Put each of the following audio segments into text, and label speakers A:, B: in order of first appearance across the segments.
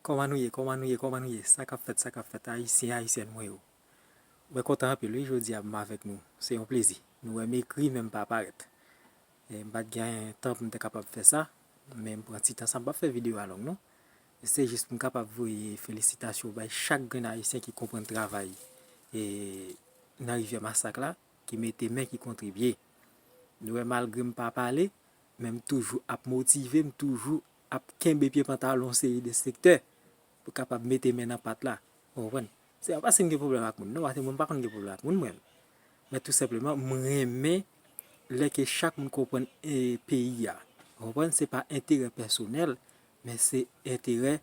A: Kòman nou ye kòman nou ye kòman nou ye sa kap fèt sa kap fèt ayisyen ayisyèn mwen yo mwen kontan anpil wi jodia m avèk nou se yon plezi nou wè m ekri men m pa parèt m pat gen tan pou m te kapab fè sa men m pran ti tan sa m pap fè videyo a long non se jis pou m kapab voye felisitasyon bay chak grenn ayisyen ki konprann travay nan rivyè masak la ki mete men ki kontribye nou wè malgre m pa pale men m toujou ap motive m toujou ap kenbe pye pantalon seri de sektè pou kapab mete men nan pat la. Ou konprann? Se pa paske m gen pwoblèm ak moun non, paske mwen m pa konn gen pwoblèm ak moun mwen. Men tou senpleman m renmen lè ke chak moun konprann peyi a. Ou konprann? Se pa enterè pèsonèl, men se enterè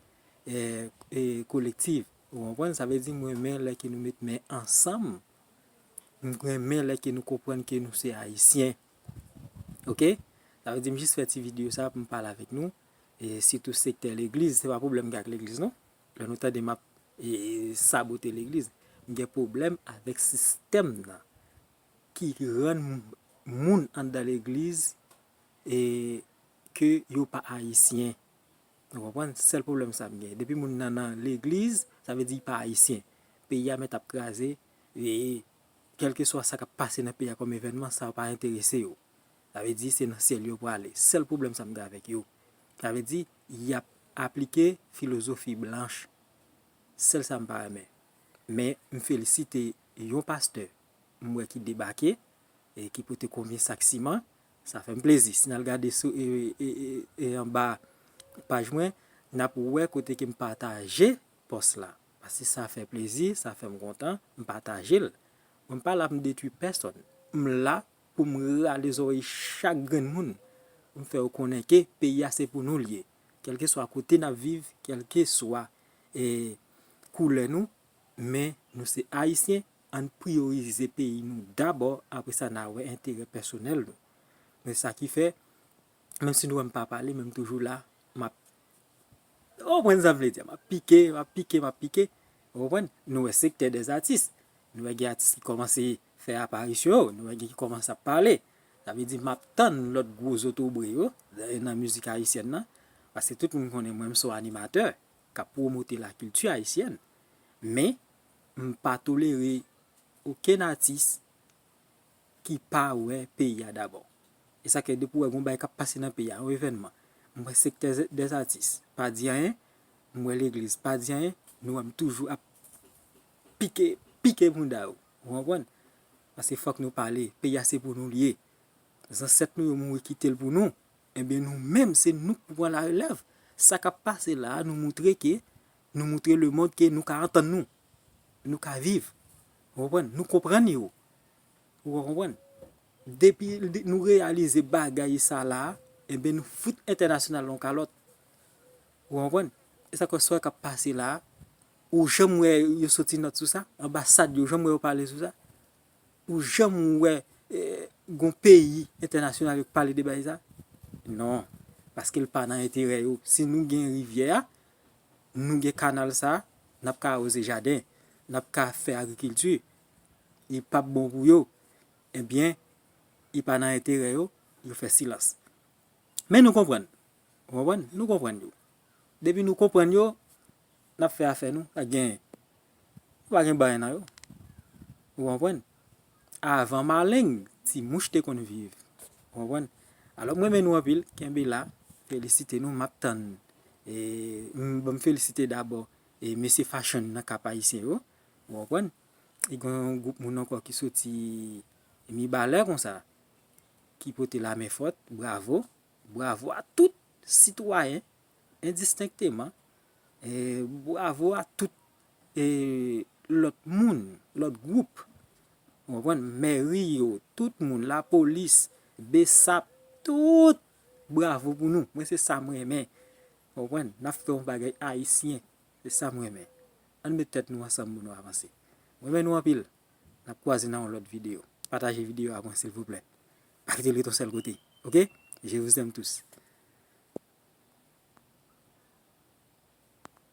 A: kolektiv. Ou konprann? Sa vle di m renmen lè ke nou met men ansanm. M renmen lè ke nou konprann ke nou se Ayisyen. Ok sa vle di m jis fè ti video sa pou m pale avèk nou e sitou sektè legliz se pa pwoblèm m gen ak legliz non lè nou tande m ap sabote legliz m gen pwoblèm avèk sistèm nan ki rann moun anndan legliz e ke yo pa ayisyen nou konprann sèl pwoblèm sa m gen depi moun nan nan legliz sa vle di pa ayisyen peyi a mèt ap kraze e Kèlkeswa sa k ap pase nan peyi a kòm evènman, sa pa enterese yo. Sa vle di se nan syèl yo prale. Sèl pwoblèm sa m gen avèk yo, sa vle di y ap aplike filozofi blanch. Sèl sa m pa renmen. Men, m felisite yon pastè m wè ki debake e ki pote konbyen sak siman. Sa fè m plezi. Si n al gade sou anba paj mwen, n ap wè kote ke m pataje pòs la. Pase sa fè plezi, sa fèm kontan, m patajel. Mwen pa la pou m detwi pèsòn. M la pou m rale zòrèy chak grenn moun pou m fè yo konnen ke peyi a se pou nou l ye. Kèlkeswa kote n ap viv, kèlkeswa koulè nou, men nou se Ayisyen, ann priyorize peyi nou dabò apre sa n a wè enterè pèsonèl nou. Men sa ki fè, menm si nou wè m pa pale men m toujou la, m ap Ou konprann sa m vle di a? M ap pike, m ap pike, m ap pike. Ou konprann? Nou wè sektè dè atis. Nou wè gen atis ki kòmanse fè aparisyon yo. Nou wè gen ki kòmanse ap pale. Sa vle di m ap tann lòt gwo zotobre yo nan mizik ayisyèn nan. Paske tout moun konnen mwen m son animatè k ap pwomote lakilti ayisyèn. Men, m pa tolere okenn atis ki pa wè peyi a dabò. E sa k fè depi ou wè gon bagay k ap pase nan peyi a, yon evènman, m wè sektè dè zatis pa di anyen, m wè legliz pa di anyen, nou wè m toujou ap pike, pike bounda yo. Ou konprann? Paske fòk nou pale, peyi a se pou nou li ye. Zansèt nou yo mouri kite l pou nou. Enben nou menm se nou k pou pran larelèv. Sa k ap pase la a nou moutre ke, nou moutre lemonn ke nou ka antann nou. Nou ka viv. Ou konprann? Nou konprann yo. Ou ka konprann? Depi nou reyalize bagay sa la, enben nou fout entènasyonal la yon kalòt. Ou konprann? E sa k fè sa k ap pase la a, ou janm wè yo soti nòt sou sa? Anbasad yo, ou janm wè yo pale sou sa? Ou janm wè yon peyi entènasyonal yo pale de bagay sa a? Non. Paske l pa nan enterè yo. Si nou gen rivyè a, nou gen kanal sa, n ap ka awoze jaden, n ap ka fè agrikilti, li p ap bon pou yo, ebyen li pa nan enterè yo, yo fè silans. Men nou konprann, ou konprann, nou konprann yo. Depi nou konprann yo, n ap fè afè nou, pa gen. Ou pa gen baay nan yo. Ou konprann? Avan maleng, ti mouch te konn viv. Ou konprann? Alò m renmen nou anpil, kenbe la, felisite nou, m ap tann e bon m felisite dabò e mesye fashion nan Cap Haïtien yo. Ou konprann? E gen yon gwoup moun ankò ki soti Mibalè konsa ki pote lamenfòt, bravo, bravo a tout sitwayen. endistenkteman, bravo a tout lòt moun, lòt gwoup, ou konprann, mèri yo, tout moun, lapolis, bsap, tout, bravo pou nou, mwen se sa m renmen, ou konprann, n ap fè yon bagay ayisyen, se sa m renmen. Ann met tèt nou ansanm pou nou avanse. M renmen nou anpil, n ap kwaze nan yon lòt videyo. Pataje videyo a pou mwen silvouplè. Pa kite l ret yon sèl kote ok je vous aime tous.